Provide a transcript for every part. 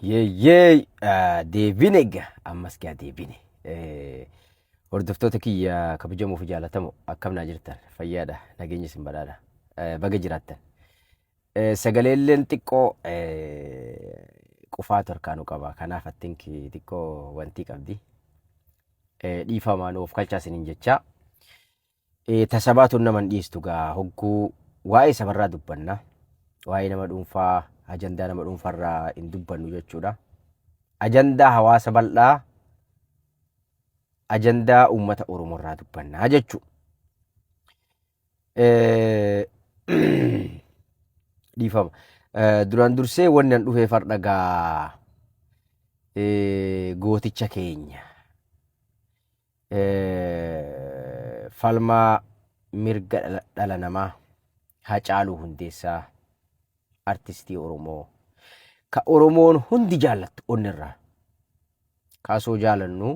Yeeyyee ah, deebine egaa ammas gaa deebine. Eh, Hordoftoota kiyya kabajamoo fi jaalatamoo akkam naa jirtan fayyaadha nageenya isin badhaadha Eh, baga jiraattan. Eh, Sagaleelleen xiqqoo eh, qufaa torkaanu qaba kanaaf attinki xiqqoo wantii qabdi. Eh, Dhiifamaan of kalchaa isiniin jechaa. Ee ta sabaatuun nama hin dhiistu gaa hogguu waa'ee sabarraa dubbanna waa'ee nama dhuunfaa ajandaa nama dhuunfarraa hin dubbannu jechuudha. Ajandaa hawaasa bal'aa ajandaa uummata Oromoorraa dubbannaa jechuu. Dhiifama. Duraan dursee wanni an dhufee fardha gaa gooticha keenya. falmaa mirga dhala namaa Hacaaluu Hundeessaa artistii Oromoo ka Oromoon hundi jaallattu onnirraa kaasoo jaalannu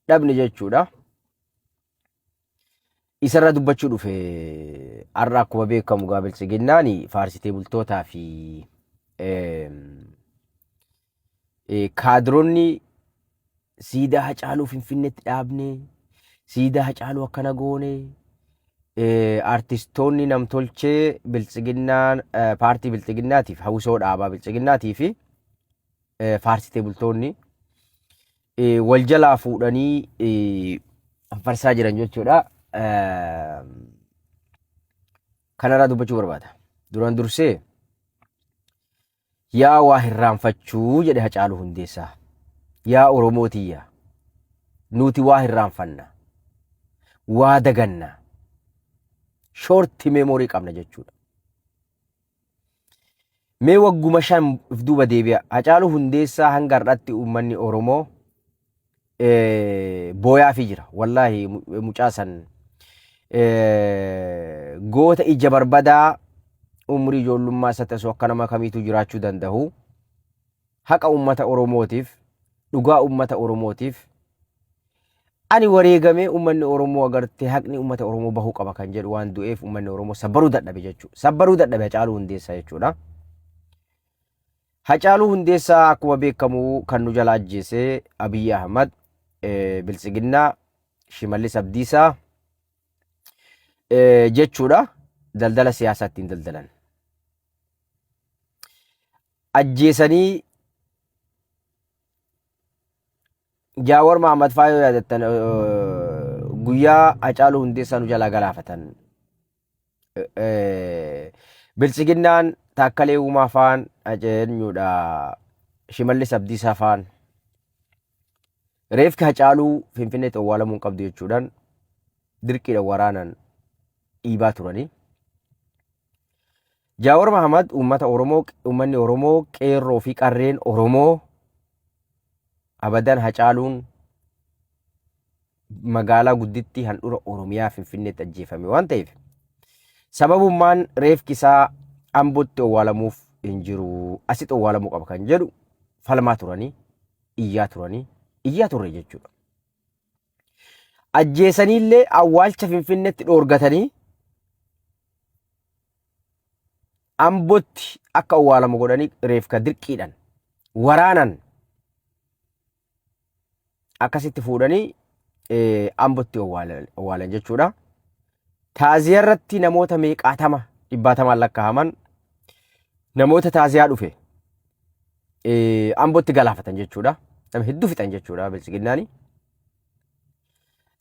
dhabne jechuudha. Isarraa dubbachuu dhufe har'a akkuma beekamu gaa biltsiginnaan faarsitee bultootaa fi kaadironni siidaa hacaaluu finfinneetti dhaabne siidaa hacaaluu akkana goone artistoonni namtolchee biltsiginnaan paartii biltsiginnaatiif hawwisoo dhaabaa biltsiginnaatii fi faarsitee bultoonni eh, wal jalaa fuudhanii eh, farsaa jiran jechuudha. Eh, Kanarraa dubbachuu barbaada. Duraan dursee yaa waa hirraanfachuu jedhe Hacaaluu Hundeessaa. Yaa Oromoo tiyya nuti waa hirraanfanna. Waa daganna. Shorti meemorii qabna jechuudha. Mee wagguma shan of duuba deebi'a. Hacaaluu Hundeessaa hanga har'aatti uummanni Oromoo eh, booyaafii jira. Wallaahi mu- mucaa san eh, goota ija barbadaa umrii ijoollummaa isaatti osoo akka nama kamiituu jiraachuu danda'u. haqa ummata Oromootiif, dhugaa ummata Oromootiif ani wareegamee ummanni Oromoo agartee haqni ummata Oromoo bahuu qaba kan jedhu waan du'eef ummanni Oromoo sabbaruu dadhabe jechuudha. Sabbaruu dadhabe Hacaaluu Hundeessaa jechuudha. Hacaaluu Hundeessaa akkuma beekamu kan nu jala ajjeese Abiyyi Ahmad, eh, Biltsiginnaa, Shimallis Abdiisaa eh, jechuudha. Daldala siyaasaa ittiin daldalan. ajjeesanii Jaawar Mahammad faa yoo yaadattan eh, guyyaa Hacaaluu Hundeessaa nu jalaa galaafatan eh, eh, bilchiginnaan taakkalee uumaa faan ajeenyuudha shimallis abdiisaa faan reefki Hacaaluu Finfinneetti awwaalamuu hin qabdu jechuudhaan dirqiidhaan waraanan dhiibaa turanii. Jaawar Mahamad uummata Oromoo uummanni Oromoo qeerroo fi qarreen Oromoo abadan hacaaluun magaalaa guddittii handhura Oromiyaa Finfinneetti ajjeefame waan ta'eef sababummaan reefki isaa Ambotti owwaalamuuf hin jiru asitti owwaalamuu qaba kan jedhu falmaa turanii iyyaa turanii iyyaa turre jechuudha. Ajjeesaniillee awwaalcha Finfinneetti dhoorgatanii Ambotti akka owwaalamu godhanii reefka dirqiidhan waraanan akkasitti fuudhanii eh, Ambotti owwaalan owwaalan jechuudha. Taaziyaa irratti namoota meeqaatama dhibbaatamaan lakkaa'aman namoota taaziyaa dhufe eh, Ambotti galaafatan jechuudha. Nama hedduu fixan jechuudha biltsiginnaani.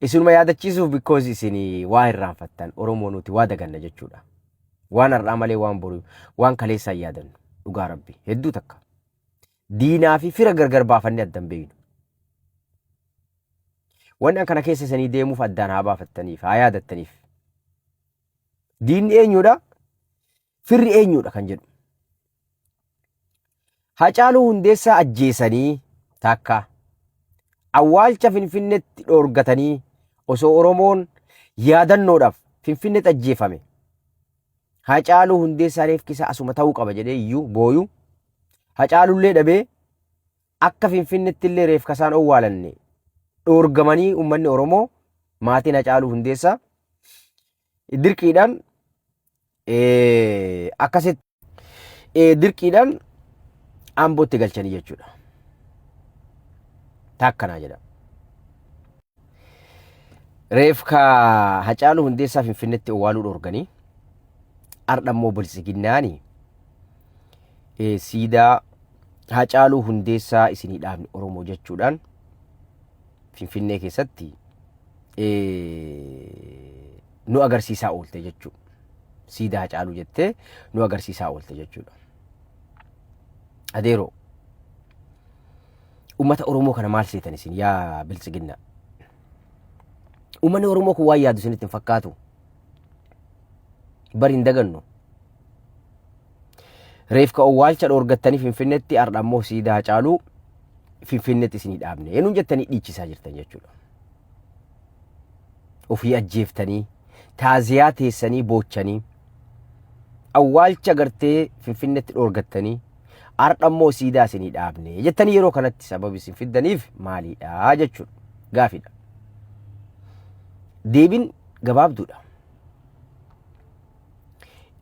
Isinuma yaadachiisuuf because isin waa hirraanfattan Oromoo nuti waa daganna jechuudha. Waan har'aa malee waan boru waan kaleessaa hin yaadannu dhugaa rabbi hedduu takka. Diinaa fi fira gargar baafannee adda hin beeknu. Wanni an kana keessa isanii deemuuf addaan haa baafattaniif haa yaadattaniif. Diinni eenyuudha? firri eenyuudha kan jedhu. Hacaaluu Hundeessaa ajjeesanii takka awwaalcha Finfinneetti dhoorgatanii osoo Oromoon yaadannoodhaaf Finfinneetti ajjeefame. Hacaaluu Hundeessaa reefki isaa asuma ta'uu qaba jedhee iyyuu booyu. Hacaalullee dhabee akka Finfinneetti illee reefka isaan owwaalanne dhoorgamanii uummanni Oromoo maatiin Hacaaluu Hundeessaa dirqiidhaan akkasitti dirqiidhaan ambootti galchanii jechuudha. Taakkanaa jedha. Reefka Hacaaluu Hundeessaa Finfinneetti owwaaluu dhorganii har'a immoo biltsiginnaani siidaa Hacaaluu Hundeessaa isinii dhaabni Oromoo jechuudhaan Finfinnee keessatti nu agarsiisaa oolte jechuudha. Siidaa Hacaaluu jettee nu agarsiisaa oolte jechuudha. Adeeroo uummata Oromoo kana maal seetan isin yaa biltsiginna? Uummanni Oromoo kun waan yaadu isinitti hin fakkaatu. Bari hin dagannu. Reefka owwaalcha dhoorgattanii Finfinneetti har'a ammoo siidaa Hacaaluu Finfinneetti isinii dhaabne. Eenyuun jettanii dhiichisaa jirtan jechuudha. Ofii ajjeeftanii taaziyaa teessanii boochanii awwaalcha gartee Finfinneetti dhoorgattanii har'a immoo siidaa isinii dhaabne jettanii yeroo kanatti sababi isin fiddaniif maaliidha jechuudha. Gaafidha. Deebin gabaabduudha.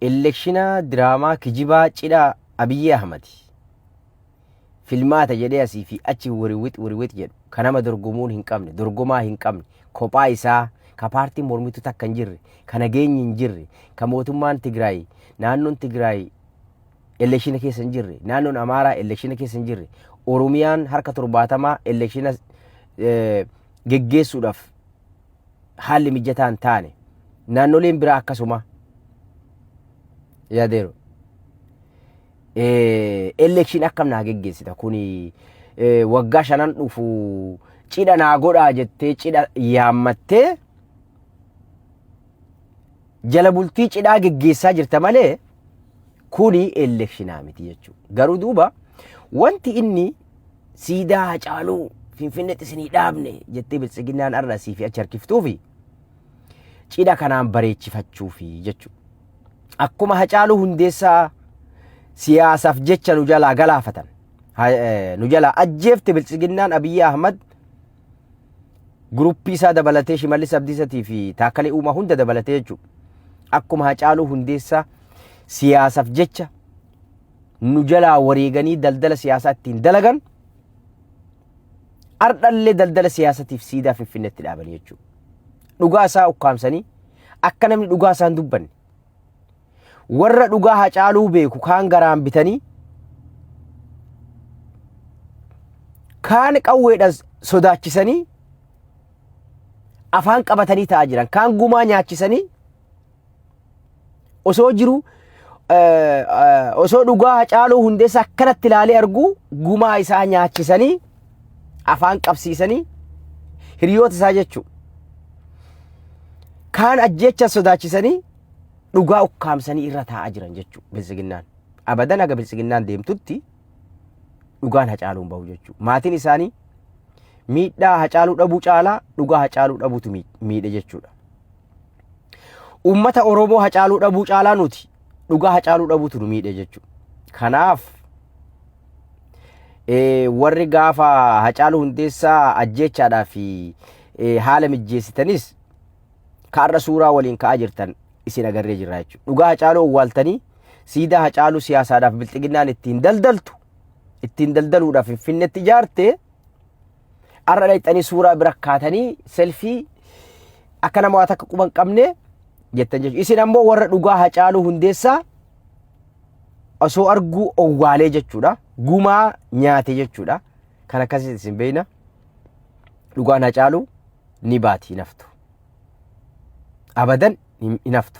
Elekshina diraamaa kijibaa cidha Abiyyi Ahmadi. Filmaata jedhee asii fi achi wiriwit wiriwit jedhu ka nama dorgomuun hin qabne, dorgomaa hin qabne, kophaa isaa ka paartiin mormituu takka hin jirre, ka nageenyi hin jirre, ka mootummaan Tigraay, naannoon Tigraay elekshina keessa hin jirre, naannoon Amaaraa elekshina keessa hin jirre, Oromiyaan harka torbaatamaa elekshina eh, geggeessuudhaaf haalli mijataa hin taane naannoleen biraa akkasuma yaadeeru. Elekshin akkam naa geggeessita kuni waggaa shanan dhufu cidha naa godhaa jettee cidha yaammattee jala bultii cidhaa geggeessaa jirta malee kuni elekshinaa miti jechuudha. Garuu duuba wanti inni siidaa Hacaaluu Finfinneetti isinii dhaabne jettee biltsiginnaan har'a asii fi achi harkiftuufi cidha kanaan bareechifachuufi jechuudha. Akkuma Hacaaluu Hundeessaa siyaasaaf jecha nu jalaa galaafatan ha- eh, nu jalaa ajjeefte biltsiginnaan Abiyyi Ahmad guruppii isaa dabalatee Shimallis Abdiisatii fi Taakkalee Uumaa hunda dabalatee jechuudha. Akkuma Hacaaluu Hundeessaa siyaasaaf jecha nu jalaa wareeganii daldala siyaasaa ittiin dalagan ardhallee daldala siyaasatiif siidaa finfinnetti dhaabanii jechuudha. Dhugaa isaa ukkaamsanii akka namni dhugaa isaa hin dubbanne. Warra dhugaa hacaaluu beeku kaan garaan bitanii kaan qawweedhaan sodaachisanii afaan qabatanii ta'aa jiran kaan gumaa nyaachisanii osoo jiru osoo dhugaa hacaaluu hundeessa akkanatti ilaalee arguu gumaa isaa nyaachisanii afaan qabsiisanii hiriyoota isaa jechuu kaan ajjeecha sodaachisanii dhugaa ukkaamsanii irra taa'aa jiran jechuu bilsiginnaan abadan aga bilsiginnaan deemtutti dhugaan hacaaluun bahu jechuu maatiin isaanii miidhaa hacaaluu dhabuu caalaa dhugaa hacaaluu dhabuutu miidhe jechuudha. Uummata Oromoo hacaaluu dhabuu caalaa nuti dhugaa hacaaluu dhabuutu nu miidhe jechuudha. Kanaaf warri gaafa hacaaluu hundeessaa ajjeechaadhaa fi haala mijjeessitanis kaarra suuraa waliin ka'aa jirtan isin agarree jirra jechuudha. Dhugaa hacaaluu owwaaltanii siidaa hacaaluu siyaasaadhaaf bilxiginnaan ittiin daldaltu ittiin daldaluudhaaf finfinnetti ijaarte Har'a dhaqxanii suuraa bira kaatanii selfii akka nama waa takka quba hin qabne jettan jechuudha. Isin ammoo warra dhugaa hacaaluu hundeessaa osoo arguu owwaalee jechuudha. Gumaa nyaate jechuudha. Kan akkasitti isin beekna. Dhugaan hacaaluu ni baati hin haftu. Abadan hin haftu.